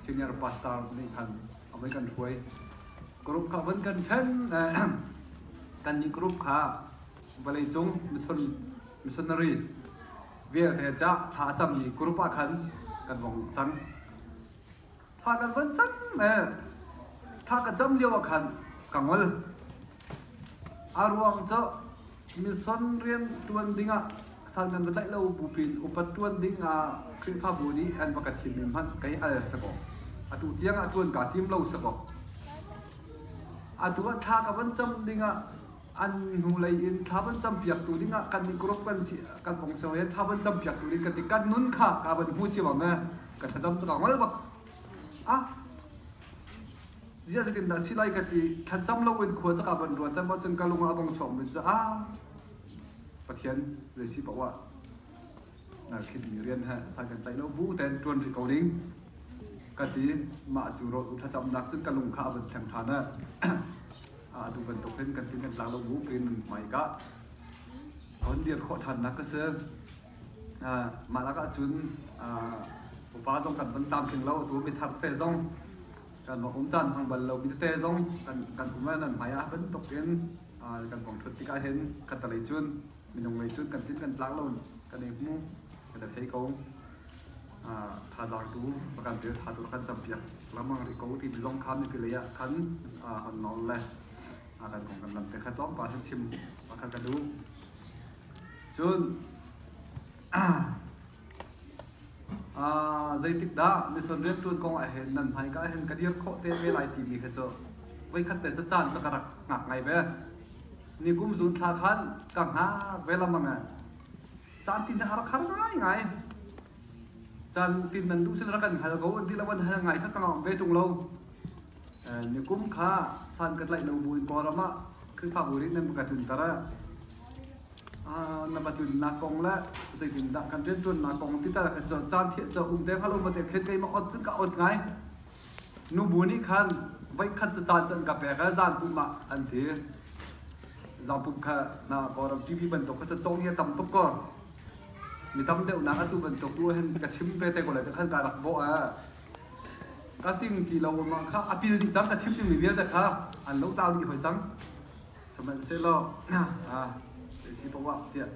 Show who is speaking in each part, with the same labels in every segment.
Speaker 1: senior pastor nih khan a voi kan hruai group kha von kan then kan nih group kha vawlei cung mission missionary vialte ca tha cammi group ah khan kan vong cang tha kan von cang tha ka cam lio ah khan ka ngol A ruang cu mison rian ṭuan dingah sal nan va tlaih lo bupin upat ṭuan dingah Khrihfabu nih an va ka thimmi hmanh kei al sakaw atu tiangah ṭuan kaa tim lo sakaw atu ah thla ka van cam dingah an hnulei in thla van campiaktu dingah kan i group kan si kan ong seo he thla van campiaktu ding kan i kan nun kha ka van hmu ciam ame ka thlacam takang mal bak a ziah zetin dah si lai ka ti thlacam loin khua caka van ruat tam ahcun ka lung ah a bong chawngmi cu a pathian zei si paoh ah na khit mi rian ha sai kan tai lo bu ten tuan rih ko ding ka ti ma cu ro tu thlacam nak cun ka lung kha a van theng than a a tu bantuk hin kan tin kan tla lo bu kin mai ka hon dir kho than nak ka se Mah lakah cun upa zong kan van tlamtling lo. Atu mithar te zong kan va um caan hmang bal lo mi te zong kan um le nan hmai ah bantuk in kan vong thut tikah hin khatalei cun minung lei cun kan thin kan tlak lo kan ei hmu kan thei ko. Thazaang tu va kan tel tha tu kan campiak lengmang rih ko timi zong kha mipi lei ah khan an nawl le kan kong kan lam te kha tlawmpal han chim pakhat ka duh. Cun zeitikdah mission rianṭuan kong ah hin nan hmaika ah hin ka dir khawh te ve lai timi khi cu voikhat te cu caan cu ka rak hngak ngai ve. Nikum zun thla khan ka hngak ve lengmang e. Caan tin a rak har ngai ngai. Caan tin nan duh sin rak kan hal ko ti le van hal ngai kha ka ngam ve ṭung lo. Nikum kha san ka tlaih lo Bawipa ram ah Khrihfabu rin nan ka tlunter ah na va tlunnak kong le zeitindah kan rianṭuannak kong tital ka cu caan thieh cu um te halo ma te khet kei ma ot cu ka ot ngai nubu nih khan voikhat cu caan cu an ka pek a zan pum ah an ti zan pum kha na kawram TV bantuk kha cong hi tam tuk ko mi tam deuh nak atu bantuk tu hen ka chim ve te ko le ka khan ka rak bo a ka tim ti lo mah kha a pil dih cang ka chim dingmi vialte kha an lo tlau dih hoi cang sihmanhsehlaw si poah tiah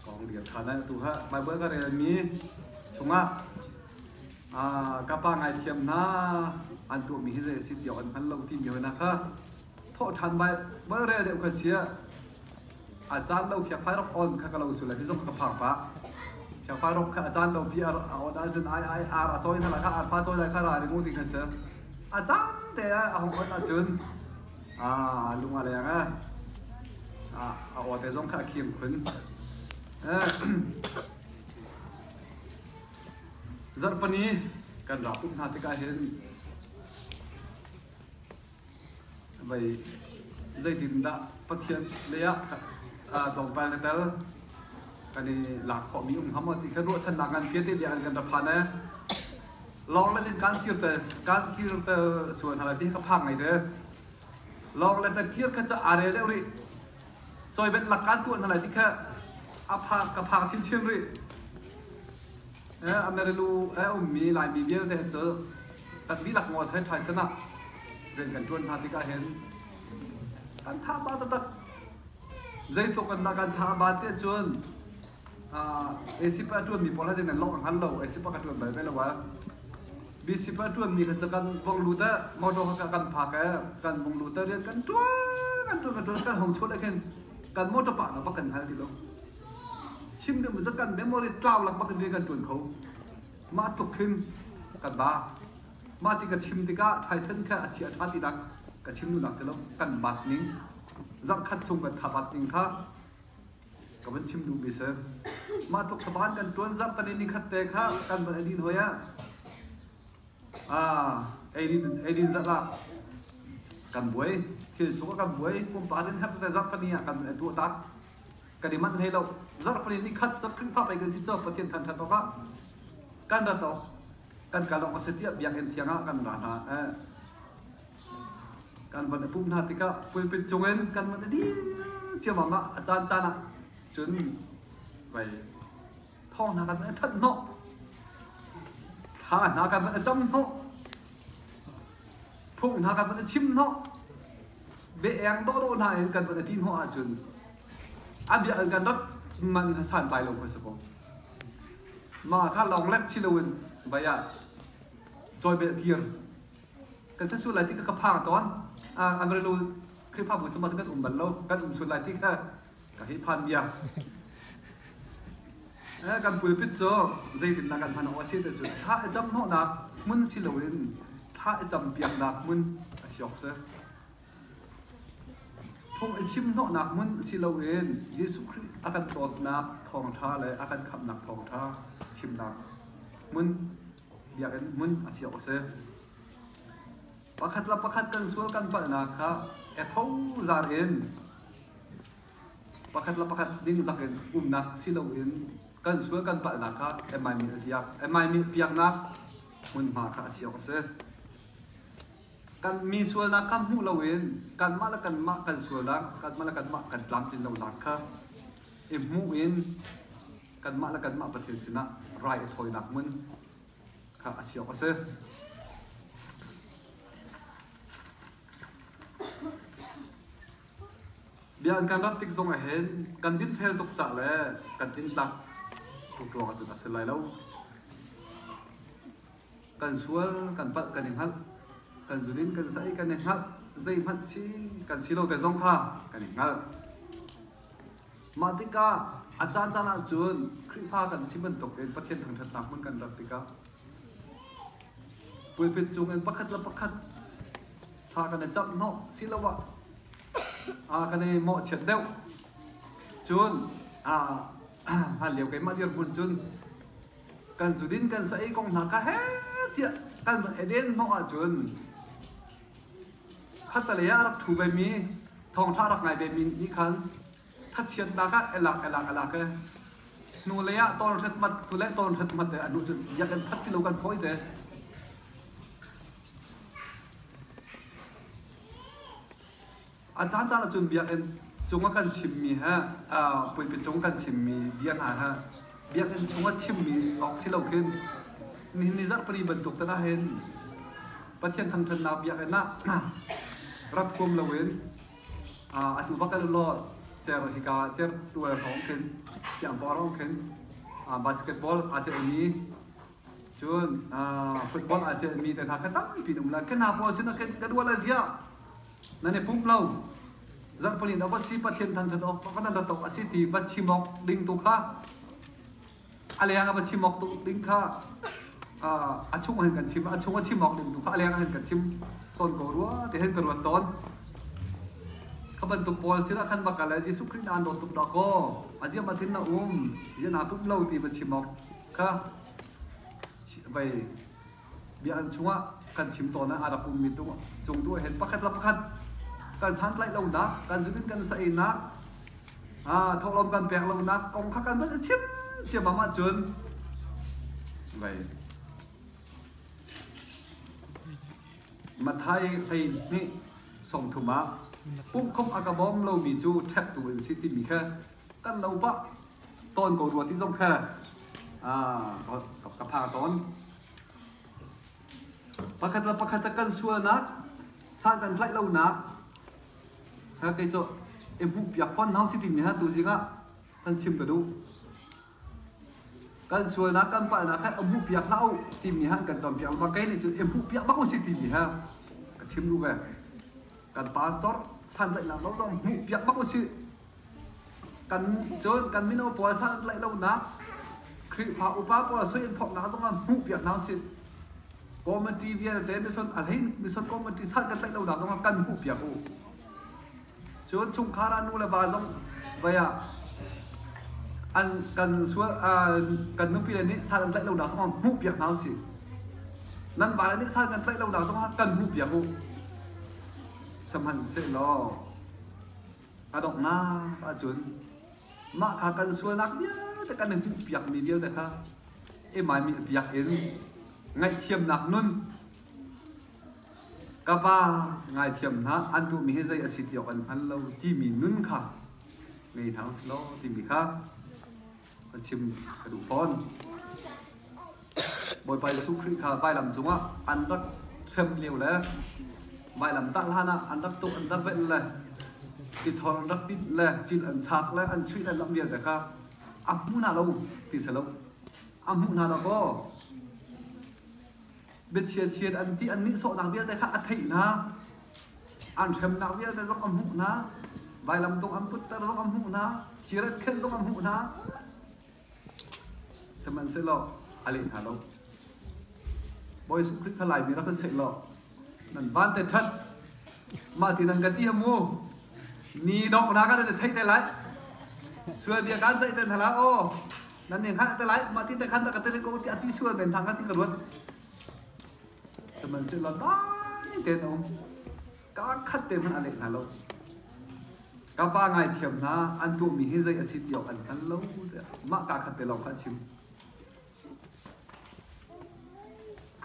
Speaker 1: kong bia kha nan tu ha Bible ka relmi chungah ka pa ngai thiam hna an tuahmi hi zei si tiawk an hngal lo timi hoi na kha thawh ṭhan Bible rel deuh kha sia A caan lo khiakfai rak on kha ka lo sul ti zong ka phang pah. Khiakfai rak kha a caan lo pi a on ahcun ai ai ar a cawi hna la kha ar fa cawi la kha ra ringu ding an si. A caan te a hong on ahcun a lung a leng a a aw te zong kha a khim khun. Zarhpani kan rak up hna tikah hin Zeitindah Pathian lei ah tlawmpal na tel? Kan i lak khawhmi um hnga maw ti kha ruahchannak ngan vialte bia an kan ra phan ee. Lawnglet in kaan kirter kaan kirter sual hna lai ti kha phang ngai de. Lawnglet na kir kha ca are deuh rih. Cawibenh lak kan tuah na lai ti kha a phang ka phang chinchin rih. Eh, Amerilu eh ummi Laimi vialte an cu kan dihlak ngol thai thai sanah rian kan tuan hna tikah hin kan tha ba tatak zeitluk kan da kan tha ba te cun ACP a ṭuanmi pawl hatin an lawmh a hngal lo ACP a ka ṭuan bal ve lo a BCP a ṭuanmi kha cu kan vong lut ah motor kha kan phak ah kan vong lut ah rian kan ṭuan kan ṭuan kan ṭuan kan hong suat ah khin kan motor pa na bak kan hal ti lo chim ding mu kan memory tlau lak bak rian kan ṭuan kho mah tluk khin kan ba mah ti ka chim tikah Tyson kha a chia ṭha ti dak ka chim nu nak ti lo kan mas ning zang khat chung kan thabat ning kha ka van chim duhmi si. Mah tluk saban kan tuan zarh tan i nikhat te kha kan van edin hoi ah ah eidin eidin zarh ah kan buai thil suk kan buai pumpa din khat te zarh pani ah kan etu tak kan i man hlei lo zarh pani ni khat zarh khrihfa pai kan si cho pathian than than awk ah kan ra to kan kal awk a si tiah biakinn thiang ah kan ra hna eh kan van a pumh hna tikah pulpit cungin kan van a dir ciammam ah a caan caan ah cun vai thong hna kan van a ṭhat hnawh thla hna kan van a cam hnawh phung hna kan van a chim hnawh ve eng dawhdawh hna in kan van a ti hnawh ahcun an bia an kan rat man san bai lo hmasa ko ma kha long lek chi loin vaya choi bel kir kan sa su lai ti ka phang ton agre lu khrifa bu chuma kan um bal lo kan um sul lai ti ka ka hi phan bia kan pulpit cho zeitin na kan hman o si te chu tha e jam no na mun si lo in tha e jam piang na mun a siok se phung e chim no na mun si lo in jesu christ akan tot na thong tha le akan khap na thong tha chim na mun biakinn hmun a si awk a si. Pakhat le pakhat kan sual kan palhnak kha etho zar in pakhat le pakhat ning lak in umnak si loin kan sual kan palhnak kha emai mil piak emai mil piaknak hmunhma kha a si awk a si. Kan mi sualnak kha hmuh loin kanmah le kanmah kan sualnak kanmah le kanmah kan tlamtlin lonak kha i hmuh in kanmah le kanmah Pathian sinah rai a thawinak hmun kha a si awk a si. Bia an kan rat tik zong ah hin kan dinhel tuk ca le kan in tlak tuk ruang ah cun a si lai lo. Kan sual, kan palh, kan i hngalh, kan zunin kan sai, kan i hngalh, zei hmanh si, kan si lo ve zong kha kan i hngalh. Mah tikah a caancaan ahcun Khrihfa kan si bantuk in Pathian thangṭhatnak hmun kan rat tikah pulpit cungin pakhat le pakhat thla kan i camh hnawh siloah aa kan i mawhchiat deuh. Cun hlan lio keimah dirhmun cun kan zudin kan sa i kong hna ka he tiah kan va i den hnawh ahcun Khattelei ah a rak ṭhu vemi, thawngṭha a rak ngai vemi nih khan thatchiatnak ah a lak, a lak, a lak i hnulei ah tawlhret mat, hnulei tawlhret mat le a hnu cun biak an phat ti lo kan phawih te. A caan caan ahcun biakinn cung a kan chimmi he, puilpit cung a kan chimmi bia hna he biakinn chungah chimmi awk si lo khin nihin ni zarh pali bantuk tan ah hin Pathian thangthatnak biakinn ah rat huam loin atu bak kan lo ter hika ter tual hawng khin tiang pawr hawng khin basketball aa celhmi Cun football aa celhmi te hna kha tampi in um lai. Ka hna pawl sinah ka dual a ziah nan i pump lo. Zarhpali in va si Pathian than that awk kan dat awk a si ti va chim awk ding tu kha a leng a va chim awk tu ding kha a chung hin kan chim a chung a chim awk ding tu kha a leng hin kan chim tawn ko rua ti hin ka ruat tawn kha bantuk pawl sinah khan va kal le Jesuh Khrih aan dawt tuk dah kaw a ziam a thin na um zian aa pumh lo ti va chim awk kha vai biahan chungah kan chim tawn ah a rak ummi cung tu hen pakhat la pakhat kan santlaih lonak kan zunin kan saenak thawhlawm kan pek lonak kong kha kan van chim chiamam ahcun vai Mathai hlei nih song thum ah pumkhom a ka bawm lomi cu ṭhek tu an si timi kha kan no pa ton ko rua ti zong kha ka pha ton pakhat la pakhat kan sualnak san kan tlaih lonak ha kei cu e bu piak pon hau si tin mi ha tu zingah kan chim ka duh Kan sualnak kan palhnak kha a hmuhpiak hlah u timi han kan cawnpiak ma kei nih cun in hmuhpiak bak u si timi ha ka chim ru ve kan pastor santlaihnak lo zong hmuhpiak bak u si kan cun kan mino pawl santlaih lonak Khrihfa upa pawl sui in phoknak zong ah hmuhpiak hna u si committee vialte mission a hlein mission committee sal kan tlaih lonak zong ah kan hmuhpiak u Cun chungkhar ah nu le va zong vai ah an kan sual kan nupile nih sal an tlaih lonak zongah hmuhpiak hna usih. Nan vale nih sal kan tlaih lonak zongah kan hmuhpiak u. Sihmanhsehlaw a donghnak ahcun mah kha kan sualnak vialte kan i hmuhpiakmi vialte kha i maimi biak in ngaihthiamnak nun ka pa ngaithiam hlah an tuhmi hi zei a si ti awk an hngal lo timi nun kha ngei hna usih law timi kha kan chim ka duh fawn. Bawipa Jesuh Khrih kha vailam cungah an rak hrem lio le vailam tah hlan ah an rak tuh an rak benh le tithor an rak tinh le cil an chak le an chuih le lam vialte kha a hmu hna lo ti si lo a hmuh hna lo kaw biachiachiat an ti an nihsawhnak vialte kha a theihnak an hremnak vialte zong a hmuhnak vailamtung an putter zong a hmuhnak kirat khenh zong a hmuhnak sihmanhsehlaw a leh hna lo Bawi Jesuh Khrih kha laimi rak kan seh law nan van te ṭhat mah ti nan ka ti mu ni donghnak kan theih te lai sual dia kan ceih te hna la aw nan in hngalh te lai mah ti te khan ka tele ko ti ati sual men thang ka ti ka ruat man chu lo dai ten om ka khat te man ale na lo ka pa ngai thiam na an tu mi hi zai asi ti an khan lo ma ka khat te lo khan chim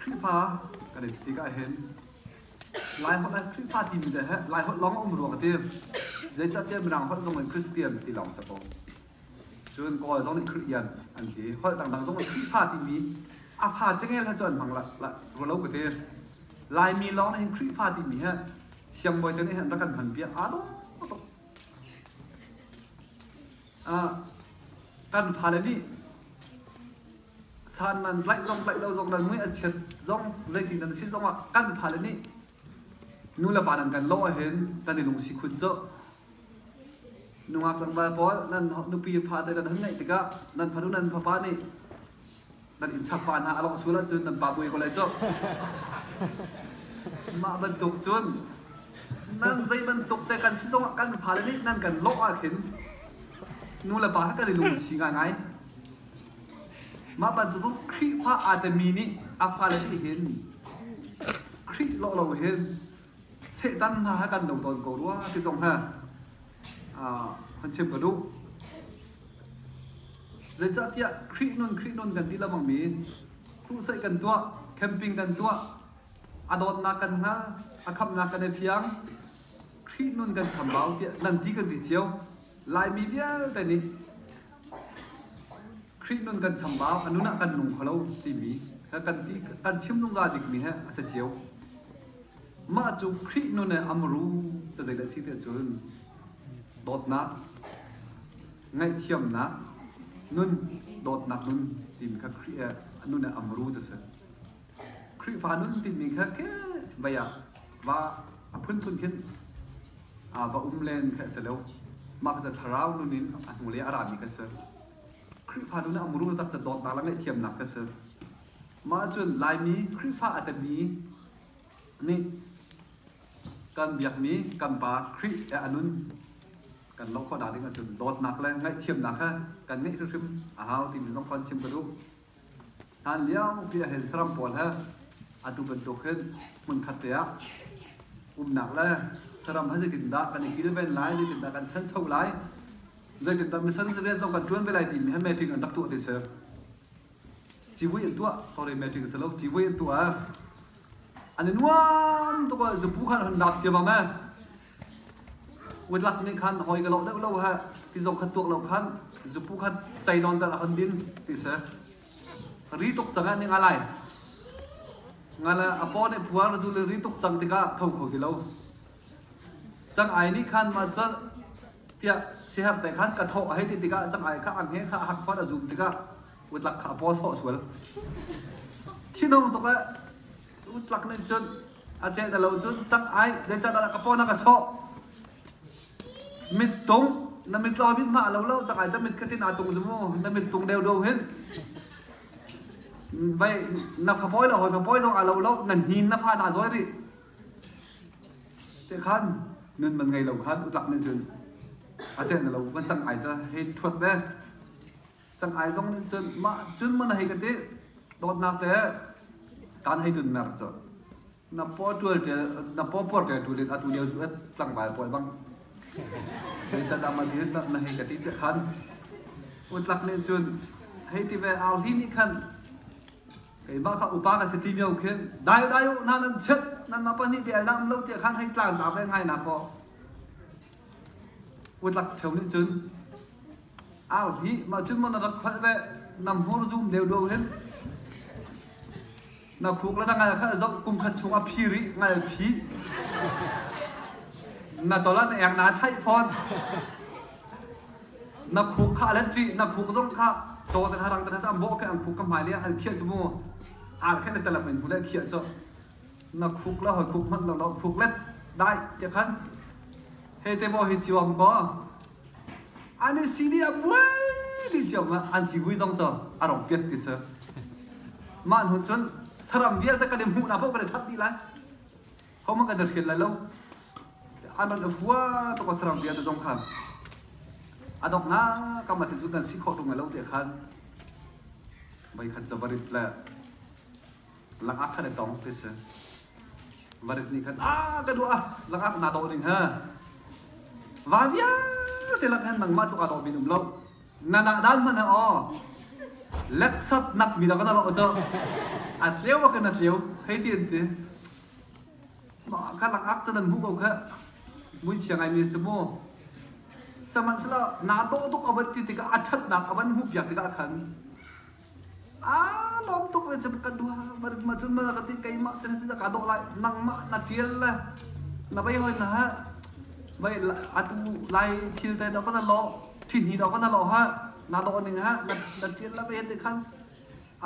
Speaker 1: krifa ka de ti ka hen lai hot an krifa ti mi de he lai hot long um ruang te zai ta te mrang hot long in christian ti long sa po Cun Kawl zong nih Kristian an ti. Holh dangdang zong Khrihfa timi a fa cengel he cun an hmang rua lo ka ti. Laimi lawng nih hin Khrihfa timi hi siangbawi te nih an rak kan hman piak aa dawh tuk. Kan fale nih san nan tlaih zong tlaih lo zong nan mui an chiat zong zeitin nan si zong ah kan fale nih nu le pa nan kan lawh hin kan i lungsi khun cu. Nungak tlangval pawl nan nupi fa te nan hun ngeih tikah nan fanu nan fapa nih nan innchak pa hna a lawng sul ahcun nan pa bui ko lai cu. Mah bantuk cun nan zei bantuk te kan si zongah kan fale nih nan kan lawh ahkhin nu le pa he kan i lungsi ngaingai. Mah bantuk cun Khrihfa aa temi nih a fale nih hin Khrih lawh lo hin Satan hna kan lo tawn ko rua ti zong he kan chim ka duh. Zeicahtiah Khrih nun Khrih nun kan ti lamang mi crusade kan tuah, camping kan tuah, a dawtnak kan hnga, a khamnak kan i fiang, Khrih nun kan chambau tiah nan ti kan ti cio. Laimi vialte nih Khrih nun kan chambau, a nun ah kan nung kho lo timi kan ti kan chim zungzal bikmi he a si cio. Mah cu Khrih nun he a muru cu zeidah si ti cun dawtnak, ngaihthiamnak, nun, dawtnak nun timi kha Khrih he a nun he a muru cu si. Khrihfa nun timi kha ke vai ah va a phunphun khin va um len kha a si lo. Mah kha cu thlarau nun in a hnulei a rami kha a si. Khrihfa tu nih a muru taktak dawtnak le ngaihthiamnak ka si. Mah ahcun Laimi Khrihfa a timi nih kan biakmi kan pa Khrih he a nun kan lohkhawh nak ding ahcun dawtnak le ngaihthiamnak he kan ngeih hrimhrim a hau timi zong kha an chim ka duh. Hlan lio piahhen saram pawl he atu bantuk hin hmunkhat te ah umnak le saram he zeitindah kan i kilven lai, zeitindah kan ṭhancho lai, zeitindah mission rian zong kan ṭuan ve lai timi he meeting an rak tuah ti si. Civui an tuah, sorry meeting si lo, civui an tuah ah an i nuam tuk ah zupu kha an hun dap ciammam e. Kutlak nih khan hawi ka loh deuh lo heh ti zong khan tuak lo khan zupu khan tei nawn tal a kan din ti si. Ri tuk cang ah nih nga lai. Nga la apaw nih phuar tu le ri tuk cang tikah tho kho ti lo. Cang ai nih khan ma cu tiah siher te khan ka thawh a hei ti tikah cang ai kha ange kha a hak fat a zum tikah utlak kha a paw sawh sual. Thinung tuk eh tu tlak nih cun a ceh da lo cun tak ai zeican dah ka pawna ka sawh mit tung na mit lo mit ma lo lo tak ai ta mit katin a tung zumu na mit tung deu deu hin vai na phapoi lo hoi phapoi dong a lo lo na hin na pha na zoi ri te khan nun man ngai lo khan utlak nih cun a ceh na lo man tang ai ta hei thuat ne Sanghai zong nih cun mah cun mun hei ka ti dawtnak te kan hei tun mer cu na po tual te na po por te tu lit atu leo chu et tlangbai pawl bang rin ta dam ati na na hei ka ti te khan utlak nih cun hei ti ve au hi ni khan keimah kha upa ka si ti mio khin dai dai u na nan chet nan ma pa nih bia lam lo ti khan hei tlan ta ve ngai na ko Kutlak theo nih cun au dih mah cun maw na rak kholh ve nam hmur zum deu duang hin na khuk le na ngai kha zoh kum khat chung a phi rih ngal phi na tol an eng na thaih fawn na khuk kha let ṭi na khuk zong kha caw ten harang ten am bawh ke ang khuk ka hmai le han khiah cu mu ar khen le telak in hule khiah so na khuk le hoi khuk hmanh lo na khuk le dai tiah khan he te maw hi ciwam ko an i sini a buai ni ciam ah an ci vui dong to a rong piat ti sir mah hnu cun tharam vialte kan i hmuh na phau kan i thap di lai khom kan i hrial lai lo an ran afua to ko saram vialte dong khan adok na kam ati zu kan si khawh tung lo te khan mai khan chavarit le langak khan i tong ti si marit nih khan a ka duah ah langak na dawh ding ha va vialte lak khan nangmah cu ka dawh bin um lo na na dan hman ha aw leksap nak mi da kana lo cho a cheu wa kana cheu hei ti an ti ma ka langak ta nan bu ko kha mun chiang ai mi se mo saman sala na to to ka bat ti ti ka athat na ka ban hu pia ti ka khan Aa lawm tuk le cem ka duha ma cun ma ka ti keimah te na ka dawh lai nangmah na tial le na bei hoi na ha vai atu lai thil te dok na lo thini dok na lo ha na dawh ning ha na na tial la ve te khan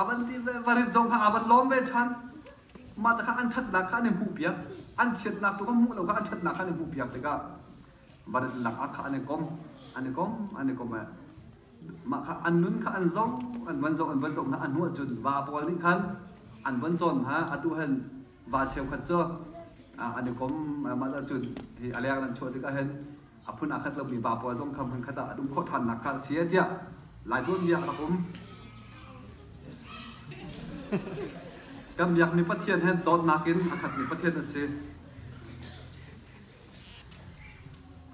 Speaker 1: avan ti ve varit zong ha avan lawm ve than ma ta kha an that nak kha an i hmuh piak an chiat nak tu ka hmuh lo kha an that nak kha an i hmuh piak tikah van lak ah kha an i kom an i kom an i kom mah kha an nun kha an zo an van zo an van zo hna a hnuah cun va pawl nih khan an van cawn hna atu hen va cheukhat cu an i kom mah ah cun hi a leng nan chuah tikah hen a phun aa khat lomi va pawl zong kha hmunkhat ah a dum khawh ṭhannak kha a si tiah lai tuanbia a rak um kan biakmi pathian hen dawtnak in a khatmi pathian a si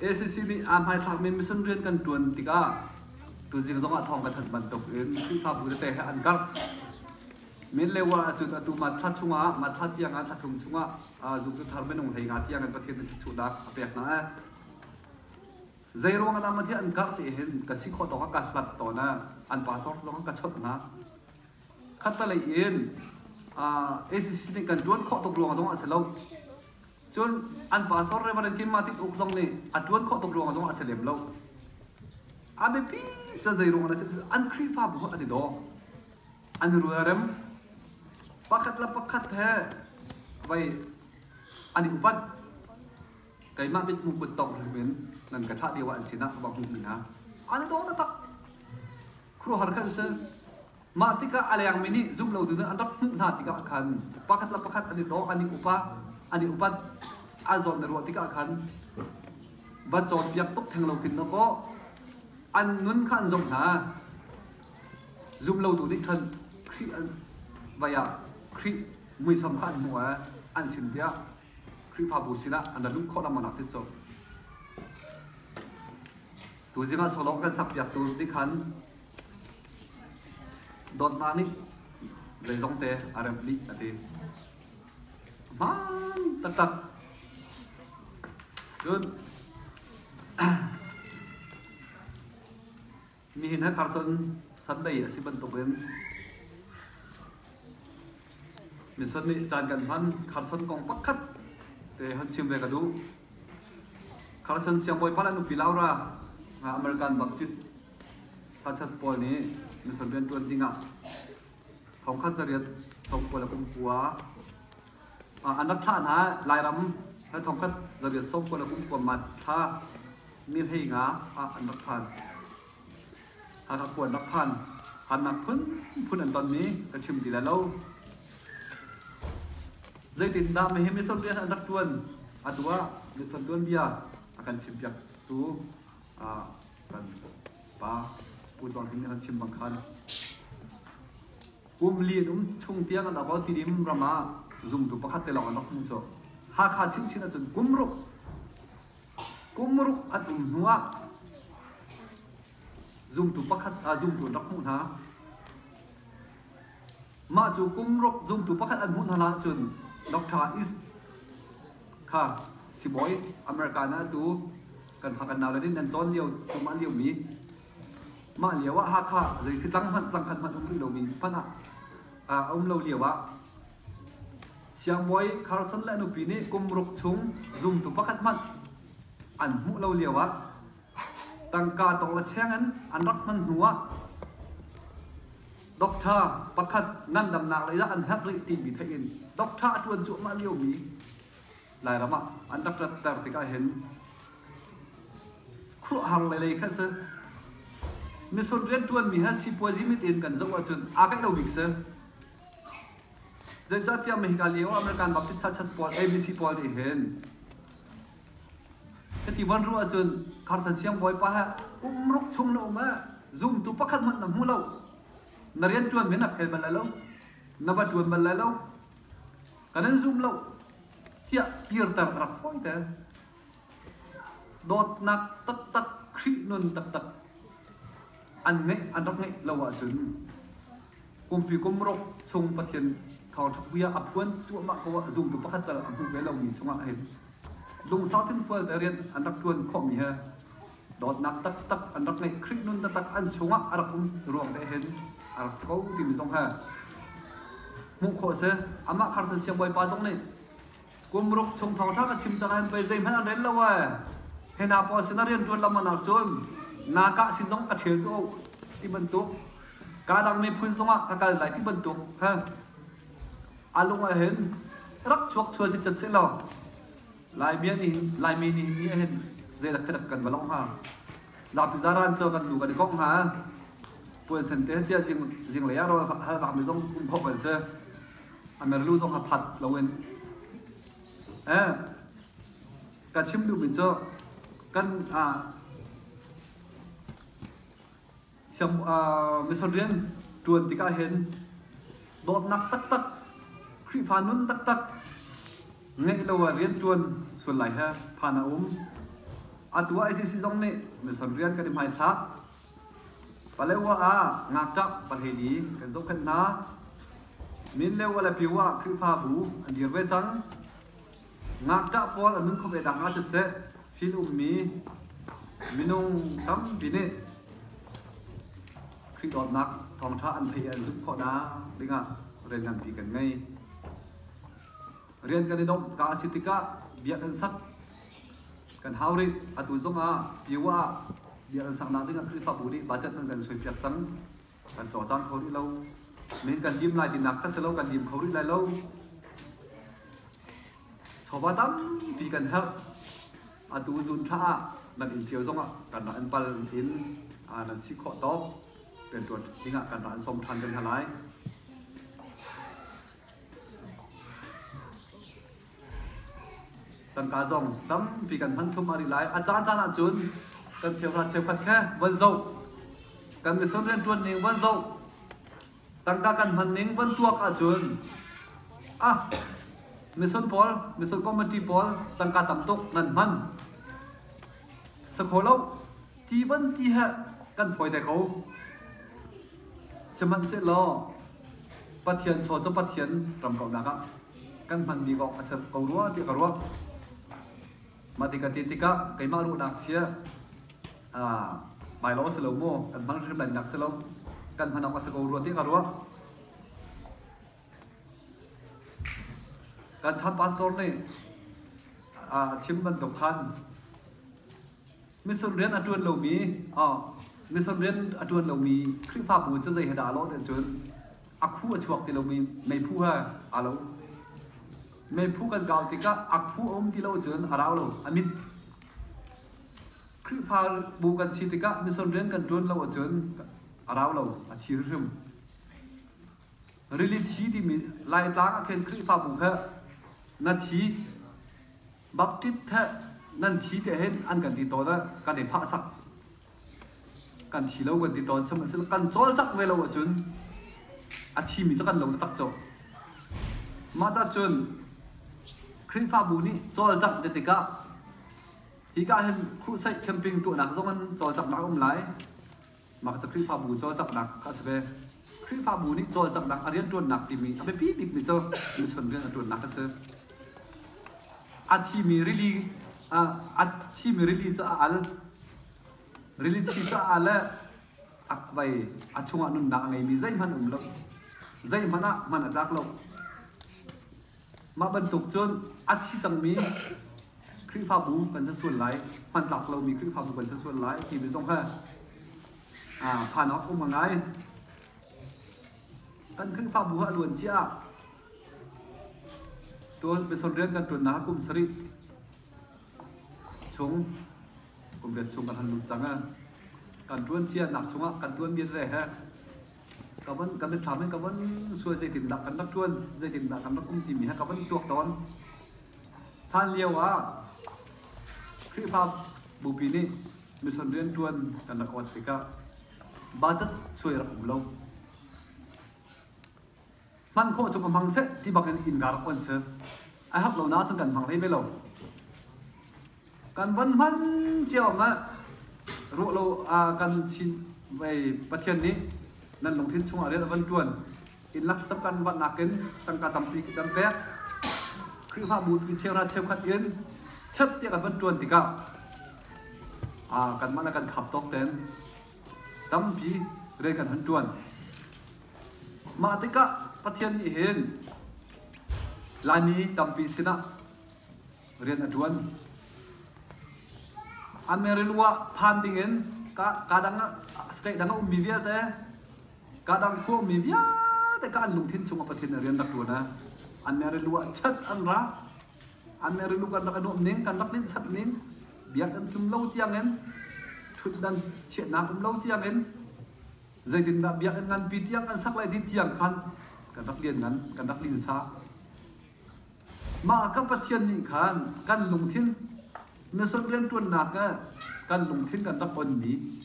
Speaker 1: ACC nih aa hmaithlakmi mission rian kan ṭuan tikah tuzing zongah thawng ka thanh bantuk in Khrihfabu tete he an karh. Min le wa ahcun atu Matthla chungah Matthla tiang ah thla thum chungah zumtuthar minung hlei nga tiang in Pathian nih thutnak a pek hna e. Zei ruangah dah Matthia an karh ti hin ka si khawh dawng ah ka hlat tawn e. An pa dawr zong ka chawnh hna. Khatalei in ACC nih kan ṭuan khawh tuk ruangah zong a si lo. Cun an pastor Reverend Kim Matik Uk zong nih a ṭuan khawh tuk ruangah zongah a si lem lo. A biapi cu zeiruangah na si an Khrihfabu kha an i daw. An i rualrem. Pakhat le pakhat he vei an i upat. Keimah mithmuh kut tawk ringin nan ka thlah lio ah an sinah ka va hmuhmi hna. An i daw taktak. Khuaruahhar kan si. Mah tikah a lengmi nih zumhlotu hna an rak hmuh hna tikah khan pakhat le pakhat an i dawh, an i upat, an i upat, an zawt na ruah tikah khan van cawnpiak tuk theng lo khin na kaw an nun kha an zomh hna. Zumlotu nih khan Khrih an vai ah Khrih muisam kha an hmuh eh, an sin tiah Khrihfabu sinah an rak luh khawh lengmangnak ti cu. Tu zingah solawng kan sakpiaktu nih khan Dawtnak nih leilong te a remh dih a ti. Hmaan taktak. Cun nihin he khar cun Sunday a si bantukin Mithon nih caan kan hman kharchon kong pakhat te han chim ve ka duh. Kharchon siangbawi pa le nupi Laura nga American bak cit Hmarchand pawl nih miṭhalo rianṭuan dingah thongkhat zariat thong pawl a um kua. An rak thlah hna Lairam hal thongkhat zariat sawm pawl a um kuaman kha nihleinga ah an rak phan. Hakha khua an rak phan. Harnak phunphun an tonmi ka chim ti lai lo. Zeitindah mehim misual bia an rak ṭuan? Atu ah misual tuanbia a kan chimpiaktu kan pa pu dong hin an chim bang khan kum li an um chung tiang an about ti dim ram ah zumtu pakhat te lawng an rak hmu cu Hakha chin chin ahcun kumruk kumruk an um hnu ah zumtu pakhat a zumtu an rak hmuh hna Mah cu kum ruk zumtu pakhat an hmuh hna hlan ahcun Dr. East kha sibawi American ah tu kan ha kan nau le nih nan cawn lio tu mah lio mi mah lio ah Hakha zei si tlang hmanh tlang khat hmanh um rih lomi hmanh ah a um lo lio ah siangbawi Carson le nupi nih kum ruk chung zumtu pakhat hmanh an hmuh lo lio ah tangka tong la cheng in an rak hman hnu ah Doctor pakhat ngandamnak lei ah an herh rih timi theih in doctor a ṭuan cuahmah liomi Lairam ah an rak ratter tik ahhin khuruahhar le lei kha si misur rianṭuanmi he sipuazi mit in kan zoh ahcun aa kaih lo bik si zeicahtiah Mexico lio American Baptist Church pawl ABC pawl nih hin Ka ti van ruah ahcun Carson siangbawipa he um ruk chung na um eh zumtu pakhat hmanh na hmu lo na rian ṭuan men a phel bal lai lo na va ṭuan bal lai lo ka nan zum lo tiah kirter ka rak fawi te dawtnak taktak Khrih nun taktak an ngeih an rak ngeih lo ahcun kumpi kum ruk chung Pathian thawngṭhapuia a phuan cuahmah ko ah zumtu pakhat tal a hmu ve lomi chungah hin lungsau thinfual te rian an rak ṭuan khawhmi he dawtnak taktak an rak ngeih Krik nun taktak an chungah a rak um ruang te hin a rak si ko timi zong he hmuh khawh a si amah kharsan siangbawipa zong nih kum ruk chung thong thang a chim cang an pei zeihmanh an rel lo ai hena pawl sin a rian ṭuan lam ah cun na kah sin zong a ṭhel ko ti bantuk kadang miphun zong ah ka kal lai ti bantuk ha a lung ah hin rak chuak chuan hi chat se law laimi nih laimi nih ni hin zeidak dak kan va long ha zapi zaran cho kan nu kan kong ha puan sen te tia jing jing le ya ro hal zam mi zong um khop an se a mer lu zong a phat loin eh ka chim duh min cu kan ah siam misal rian tuan tikah hin dawtnak taktak Khrihfa nun taktak ngeih lo a rian tuan suan lai he phan a um atu ICC zong nih misan rian kan i hmaithlak Palewa ah ngakṭah pahleli kan zohkhenh hna. Minleu le Pyo ah Khrihfabu an dir ve cang. Ngakṭah pawl an nunkhawh ve nakhnga siseh, thil ummi minung tampi nih Khrih dawtnak thawngṭha an theih i an zumh khawh nakding dingah rian nganpi kan ngei. Rian kan i domh ka a si tikah bia kan sak. Kan hau rih. Atu zongah PYU ah bia kan saknak ding ah Khrihfabu nih budget nan kan suaipiak cang. Kan cawlcang kho rih lo. Men kan lim lai tinak kan si lo, kan lim kho rih lai lo. Chawva tampi kan herh. Atu zun thla ah nan inn cio zongah kan rak an pal in ah nan si khawh tawk. Pentuan ding ah kan rak an som than kan hna lai. Tangka zong tampi kan hman thum a rih lai. A caancaan ahcun kan cheuhra cheukhat khe von zoh, kan misual rianṭuan ning von zoh, tangka kan hman ning von tuak ahcun ah misual pawl, misual committee pawl tangka tam tuk nan hman. Sakhaw lo. ti ban ti he kan hoi te ko sihmanhsehlaw pathian chaw cu pathian ram ko nak ah kan hman mi kong a ser ko rua ti ka ruah mah ti ka ti tikah keimah ruahnak sia bai lo si lo mu kan hman hrim lai nak si lo kan hman awk a si ko rua ti ka ruah kan chan pastor nih a chim bantuk khan Mission rian a ṭuan lomi mission rian a ṭuan lomi Khrihfabu cu zei he dah a lawh nih cun a khu a chuak ti lomi meiphu he aa lo. Meiphu kan kau tikah a khu a um ti lo cun a rau lo, a mit. Khrihfabu kan si tikah mission rian kan ṭuan lo ahcun a rau lo, a thi hrimhrim. Rili thi timi Laitlang ah khin Khrihfabu kha na thi Baptist thleh nan thi te hin an kan ti tawn ah kan i phah sak kan thi lo kan ti tawn sihmanhsehlaw kan cawlcangh ve lo ahcun a thimi cu kan lo taktak co mah ta cun Khrihfabu nih cawlcangh te tikah hi ka hin crusade camping tuahnak zong an cawlcanghnak a um lai Mah cu Khrihfabu cawlcanghnak kha a si ve. Khrihfabu nih cawlcanghnak a rianṭuannak timi a biapi bikmi cu mission rian a ṭuannak a si. A thimi rili a thimi rili cu a al. Rili thi cu a al i a vei a chungah nunnak a ngeimi zeihmanh a um lo. Zeihmanh ah hman a tlak lo. Mah bantuk cun a thi cangmi Khrihfabu kan si sual lai, hmantlak lomi Khrihfabu kan si sual lai timi zong he phan awk um a ngai. Kan Khrihfabu a luan cia ah tuan peson rian kan ṭuannak kum sarih chung kum riat chung kan han lut cang. Kan ṭuan cia nak chungah kan ṭuanmi re he ka von kan mitthlam in ka von suai zeitindah kan rak ṭuan zeitindah kan rak um timi he ka von tuak tawn hlan lio ah Khrihfa bupi nih mission rian ṭuan kan rak awt tikah budget suai rak um lo hman khawh cu ka hmang seh ti bakin innka rak on si ai hak lo nain kan hmang hlei ve lo kan van hman cio ah ruah lo kan chin vai pathian nih nan lungthin chungah rian van tuan in lak sap kan van nakin tangka tampi kan pek Khrihfa bu tu chera cheukhat in chep tiah kan van tuan tikah kan mah le kan khap tok ten tampi rian kan han tuan Mah tikah Pathian nih hin Laimi tampi sinah rian a ṭuan. An meril ah phan dingin kaa dang state dang a ummi vialte, kaa dang khua ummi vialte ka an lungthin chungah Pathian nih rian rak ṭuan a. An meril ah chat an ra. An meril kan rak i nuamh ning, kan rak linh chat ning. Biak an tum lo tiangin, ṭhutdan chiahnak um lo tiangin Zeitindah biakinn nganpi tiang an sak le dih tiang khan kan rak lianngan, kan rak linsa. Mah kan Pathian nih khan kan lungthin mission rianṭuannak ah kan lungthin kan rak onmi,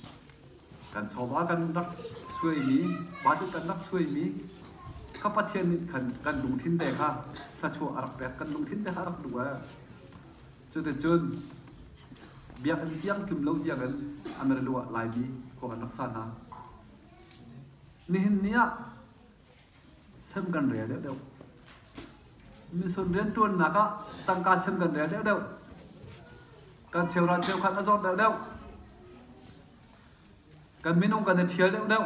Speaker 1: kan chawva kan rak suaimi, pa cu kan rak suaimi, ka Pathian nih khan kan lungthin te kha thluachuah a rak pek, kan lungthin te kha a rak duh ah Cuticun biakinn tiang tlum lo tiangin Amerilu ah Laimi khua kan rak sa hna. Nihin ni ah sem kan rel deuhdeuh. Misun rianṭuannak ah tangka sem kan rel deuhdeuh. Kan cheukhat cheukhat a zawt deuhdeuh. Kan minung kan i ṭhial deuhdeuh.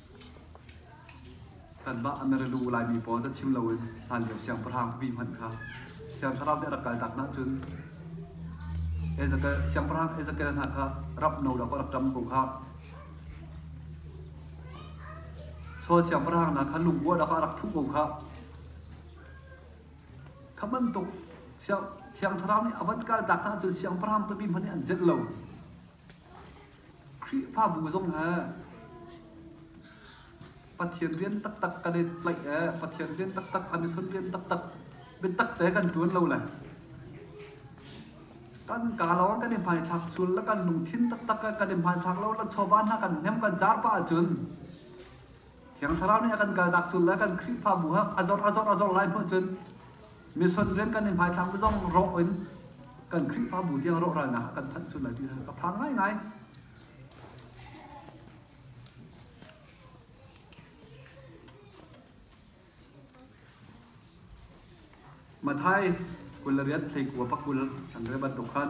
Speaker 1: Kanmah Amerilu Laimi pawl dah chim loin hlanlio siangpahrang vi hmanh kha Thiang Thlarau nih a rak kaltak hna cun siangpahrang Ezekiel hna kha rap no law ka rak ṭam ko khah. Saul siangpahrang hna kha lungkuah lakah a rak thuh ko khah. Kha bantuk Thiang Thlarau nih a van kaltak hna cun siangpahrang tupi hmanh nih an zelh lo. Khrihfabu zong he Pathian rian taktak kan i tlaih i Pathian rian taktak, a mission rian taktak biatak te kan ṭuan lo lai. Kan ka lawng kan i hmaithlak sul le kan lungthin taktak kan i hmaithlak lo la chawva hna kan hnem kan car pah ahcun Thiang Thlarau nih a kan kalnak sul le kan Khrihfabu ah a zor a zor a zor lai hmuh cun mission rian kan i hmaithlak zong rawh in kan Khrihfabu tiang rawhralnak a kan thanh sul lai ti ka phang ngaingai. Mathai kul le riat thleikua pakul an re bantuk khan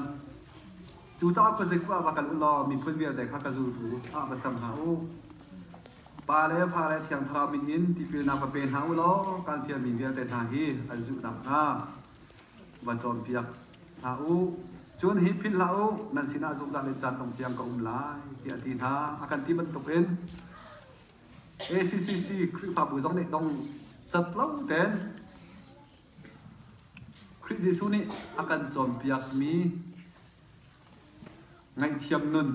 Speaker 1: cu caah khuazei kua va kal u law miphun vialte kha ka zultu ah va sam hna u. Pa le fa le thiangthlarau min in tipilnak va pe hna u law kan fialmi vialte hna hi an zulhnak hnga va cawnpiak hna u. Cun hi philh hlah u, nan sinah zungzal le caan dong tiang ka um lai, tiah a ti hna. A kan ti bantukin ACCC Khrihfabu zong nih dong catlo ten Khrih Jesuh nih a kan cawnpiakmi ngaihthiam nun,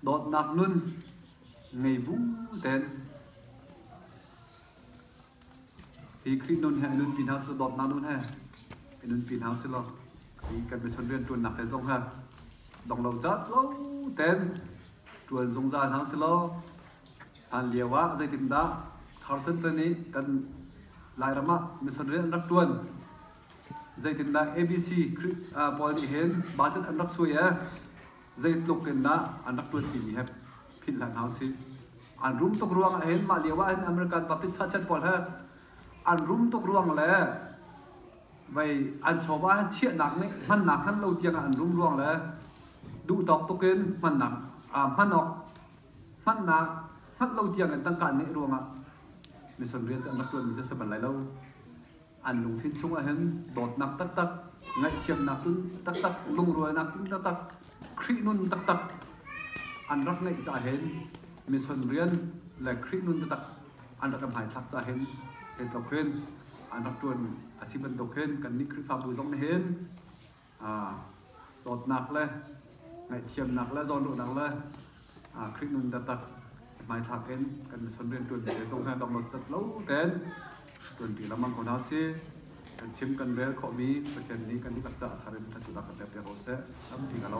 Speaker 1: dawtnak nun ngei bu ten Hi Khrih nun he nunpi hna sih, dawtnak nun he i nunpi hna sih law i kan michon rianṭuannak te zong he dong lo caan lo ten ṭuan zungzal hna sih law hlan lio ah zeitindah Tharsantan i kan Lairam ah mission rian an rak ṭuan zeitindah ABC Khrih pawl nih hin bachan an rak suai e zeitluk in dah an rak ṭuanpi mi he philh hlan hau si. An rum tuk ruang ahhin mah lio ahhin American puppet sachet pawl he an rum tuk ruang le vei an chawm ahhin chiahnak nih hmannak hman lo tiang ah an rum ruang le duhtawk tuk in hmannak hman awk hmannak hman lo tiang in tangka an ngeih ruang ah mission rian cu an rak ṭuanmi cu a si bal lai lo. an lungthin chungah hin dawtnak taktak ngaihthiamnak taktak lungrualnak taktak Khrih nun taktak an rak ngeih caah hin mission rian le Khrih nun taktak an rak am hmaithlak caah hin hin tok hin an rak tuan a si bantuk hin kan nih Khrihfabu zong nih hin dawtnak le ngaihthiamnak le zawnruahnak le Khrih nun taktak hmaithlak in kan mission rian ṭuan te tung hna dong lo tat lo ten ṭuan pi lamang ko hna si kan chim kan rel khawhmi Pathian nih kan dihlak caah thar in thatunak kan pek te ko seh tampi ka lo